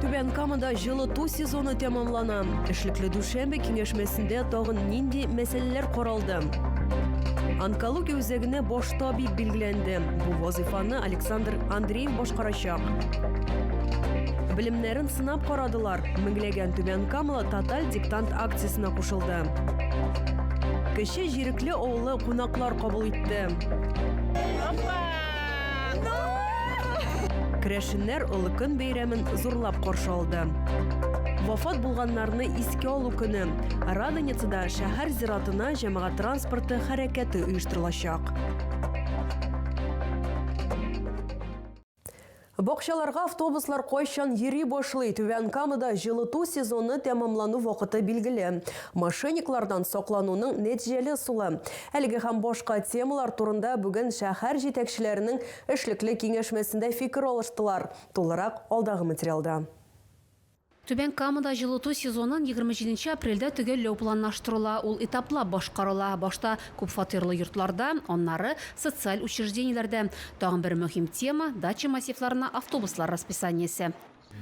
Түбән Камада җылыту сезоны тәмамлана. Эшлекле дүшәмбе киңәшмәсендә тагын нинди мәсьәләләр каралды? Онкология үзәгенә баш табиб билгеләнде. Бу вазыйфаны Александр Андреев башкарачак. Белемнәрен сынап карадылар. Меңләгән Түбән Камала тоталь диктант акциясенә кушылды. Кече Ирекле авылы кунаклар кабул итте. Керәшеннәр Олы көн бәйрәмен зурлап каршы алды. Вафат булганнарны искә алу көне Радоницада шәһәр зиратына җәмәгать транспорты хәрәкәте оештырылачак. Бакчаларга автобуслар кайчан йөри башлый? Түбән Камада җылыту сезоны тәмамлану вакыты билгеле. Мошенниклардан саклануның нәтиҗәле ысулы. Әлеге һәм башка темалар турында бүген шәһәр җитәкчеләренең эшлекле киңәшмәсендә фикер алыштылар. Тулырак алдагы материалда. Түбән Камада җылыту сезонын егерме җиденче апрельдә төгәлләү планлаштырыла. Ул этаплап башкарыла, башта күпфатирлы йортларда, аннары, социаль учреждениеләрдә. Тагын бер мөһим тема, дача массивларына автобуслар расписаниесе.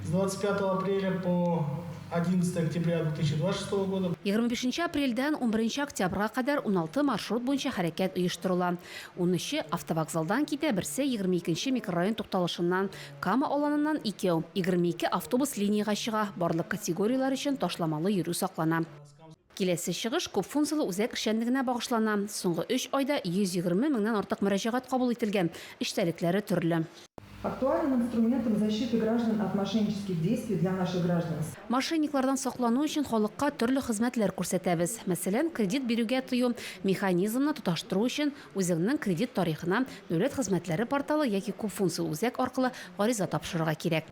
С двадцать пятого апреля по одиннадцатое октября две тысячи двадцать шестого года. Егерме бишенче апрельдән унберенче октябрьгә кадәр уналты маршрут буенча хәрәкәт оештырыла. Унөче, автовокзалдан китә, берсе, егерме икенче микрорайон тукталышыннан Кама Аланыннан икәү, егерме ике автобус линиягә чыга, барлык категорияләр өчен ташламалы йөрү саклана. Киләсе чыгыш күпфункцияле үзәк эшчәнлегенә багышлана. Соңгы өч айда 120 меңнән артык мөрәҗәгать кабул ителгән, эчтәлекләре төрле. Актуальным инструментом защиты граждан от мошеннических действий для наших граждан стало. Мошенниклардан саклану өчен халыкка төрле хезмәтләр күрсәтәбез. Мәсәлән, кредит бирүгә тыю механизмны тоташтыру өчен Үзеңнең кредит тарихына Дәүләт хезмәтләре порталы яки күп функцияле үзәк аркылы гариза тапшырырга кирәк.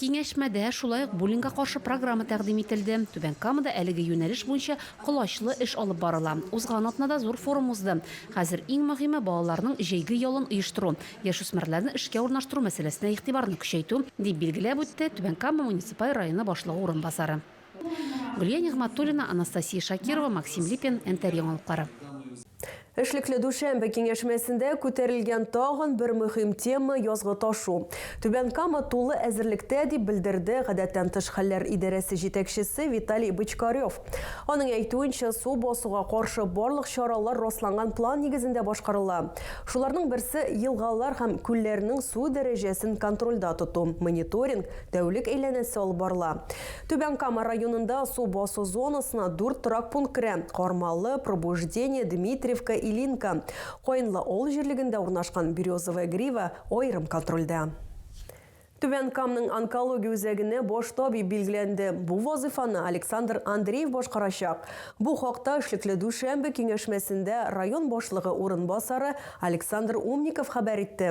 Киңәшмәдә шулай ук буллингка каршы программа тәкъдим ителде. Түбән Камада әлеге юнәлеш буенча колачлы эш алып барыла. Узган атнада зур форум узды. Хәзер иң мөһиме, балаларның җәйге ялын оештыру, яшүсмерләрне эшкә урнаштыру мәсьәләсенә игътибарны көчәйтү, дип билгеләп үтте Түбән Кама муниципаль районы башлыгы урынбасары. Гөлия Нигъмәтуллина, Анастасия Шакирова, Максим Липин, НТР яңалыклары. Эшлекле дүшәмбе киңәшмәсендә күтәрелгән тагын бер мөһим тема, язгы ташу. Түбән Кама тулы әзерлектә, дип белдерде Гадәттән тыш хәлләр идарәсе җитәкчесе Виталий Бочкарев. Аның әйтүенчә, су басуга каршы барлык чаралар расланган план нигезендә башкарыла. Шуларның берсе, елгалар һәм күлләрнең су дәрәҗәсен контрольдә тоту, мониторинг, Тәүлек әйләнәсе алып барыла. Түбән Кама районында су басу зонасына дүрт торак пункт керә, Кармалы, Пробуждение, Дмитриевка, Илинка. Каенлы авыл җирлегендә урнашкан Березовая Грива аерым контрольдә. Түбән Камның онкология үзәгенә баш табиб билгеләнде. Бу вазыйфаны Александр Андреев башкарачак. Бу хакта эшлекле дүшәмбе киңәшмәсендә район башлыгы урынбасары Александр Умников хәбәр итте.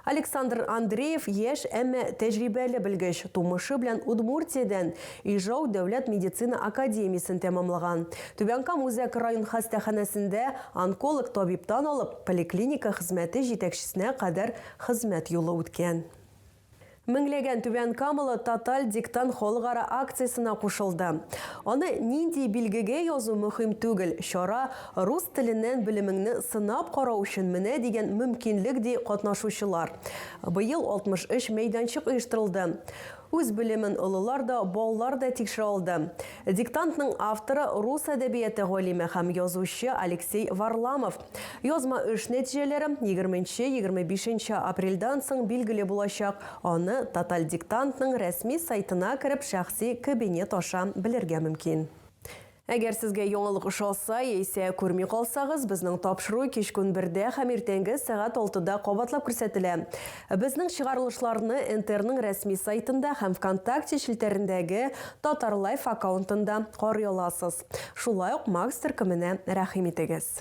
Александр Андреев, яшь, әмма тәҗрибәле белгеч, тумышы белән Удмуртиядән, Ижау дәүләт медицина академиясен тәмамлаган. Түбән Кама үзәк район хастаханәсендә онколог табибтан алып, поликлиника хезмәте җитәкчесенә кадәр хезмәт юлы үткән. Меңләгән түбәнкамалы Тоталь диктант халыкара акциясенә кушылды. Аны нинди билгегә язу мөһим түгел, чара Рус теленнән белемеңне сынап карау өчен менә дигән мөмкинлек, ди катнашучылар. Быел 63 мәйданчык оештырылды. Үз белемен олылар да, балалар да тикшерә алды. Диктантның авторы, рус әдәбияты галиме һәм язучы Алексей Варламов. Язма эш нәтиҗәләре егерменче-егерме бишенче апрельдән соң билгеле булачак, аны Тотальдиктантның рәсми сайтына кереп шәхси кабинет аша белергә мөмкин. Әгәр сезгә яңалык ошаса, яисә күрми калсагыз, безнең тапшыру кич-көн бердә һәм иртәнге сәгать алтыда кабатлап күрсәтелә. Безнең чыгарылышларны НТРның рәсми сайтында һәм ВКонтакте челтәрендәге Татар Лайф аккаунтында карый аласыз. Шулай ук Макс төркеменә рәхим итегез.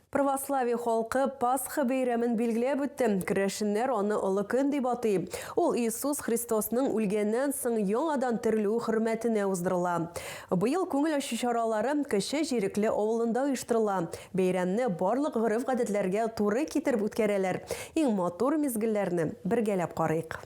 Православие халкы Пасха бәйрәмен билгеләп үтте. Керәшеннәр аны олы көн дип атый. Ул Иисус Христосның үлгәннән соң яңадан терелүе хөрмәтенә уздырыла. Быел күңел ачу чаралары Кече Җирекле авылында оештырыла. Бәйрәмне барлык гореф-гадәтләргә туры китереп үткәрәләр. Иң матур мизгелләрне бергәләп карыйк.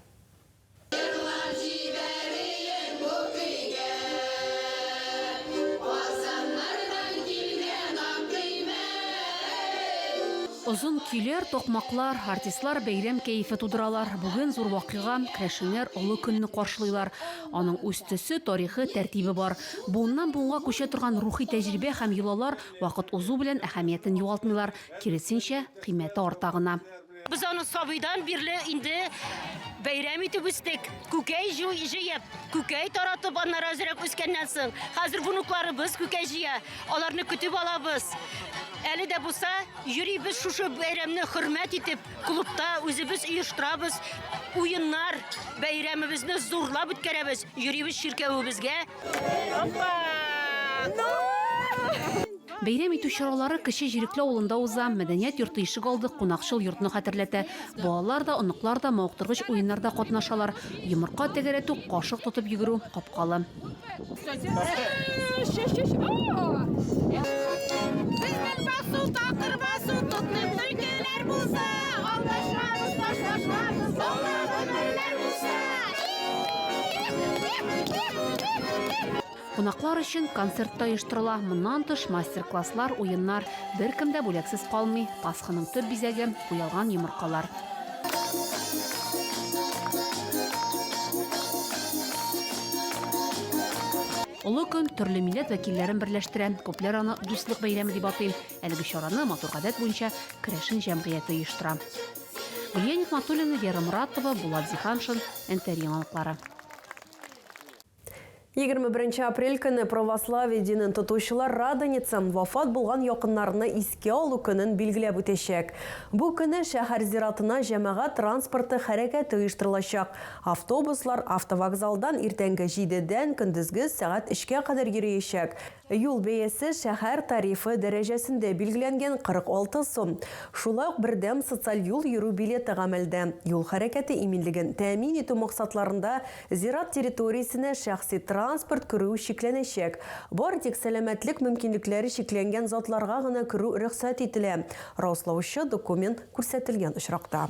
Озын көйләр, такмаклар, артистлар бәйрәм кәефе тудыралар. Бүген зур вакыйга, керәшеннәр олы көнне каршылыйлар. Аның үз төсе, тарихы, тәртибе бар. Буыннан-буынга күчә торган рухи тәҗрибә һәм йолалар вакыт узу белән әһәмиятен югалтмыйлар, киресенчә, кыйммәте арта гына. Без аны сабыйдан бирле инде бәйрәм итеп үстек. Күкәй җыеп, күкәй таратып, аннары әзрәк үскәннән соң, хәзер внукларыбыз күкәй җыя. Аларны көтеп алабыз. Әле дә булса, йөрибез шушы бәйрәмне хөрмәт итеп, клубта үзебез оештырабыз. Уеннар, бәйрәмебезне зурлап үткәрәбез. Йөрибез чиркәвебезгә. Опа! Ну! Бәйрәм итү чаралары Кече Җирекле авылында уза. Мәдәният йорты ишегалды кунакчыл йортны хәтерләтә. Балалар да, оныклар да мавыктыргыч уеннарда катнашалар. Йомырка тәгәрәтү, кашык тотып йөгерү, капкалы. Кунаклар өчен концерт та оештырыла. Моннан тыш мастер-класслар, уеннар. Беркем дә бүләксез калмый. Пасханың төп бизәге, уялган йомыркалар. Олы көн төрле милләт вәкилләрен берләштерә. Күпләр аны Дуслык бәйрәме дип атый. Әлеге чараны матур гадәт буенча керәшен җәмгыяте оештыра. Гөлия Нигъмәтуллина, Вера Моратова, Булат Зиһаншин, НТР яңалыклары. Егерме беренче апрель көнне православие динен тотучылар Радоница, вафат булган якыннарны искә алу көнен билгеләп үтәчәк. Бу көнне шәһәр зиратына җәмәгать транспорты хәрәкәте оештырылачак. Автобуслар автовокзалдан иртәнге җидедән көндезге сәгать өчкә кадәр йөриячәк. Юл бәясе шәһәр тарифы дәрәҗәсендә билгеләнгән 46 сум. Шулай ук бердәм социаль юл йөрү билеты гамәлдә. Юл хәрәкәте иминлеген тәэмин итү максатларында зират территориясенә шәхси транспорт керү чикләнәчәк. Бары тик сәламәтлек мөмкинлекләре чикләнгән затларга гына керү рөхсәт ителә, раслаучы документ күрсәтелгән очракта.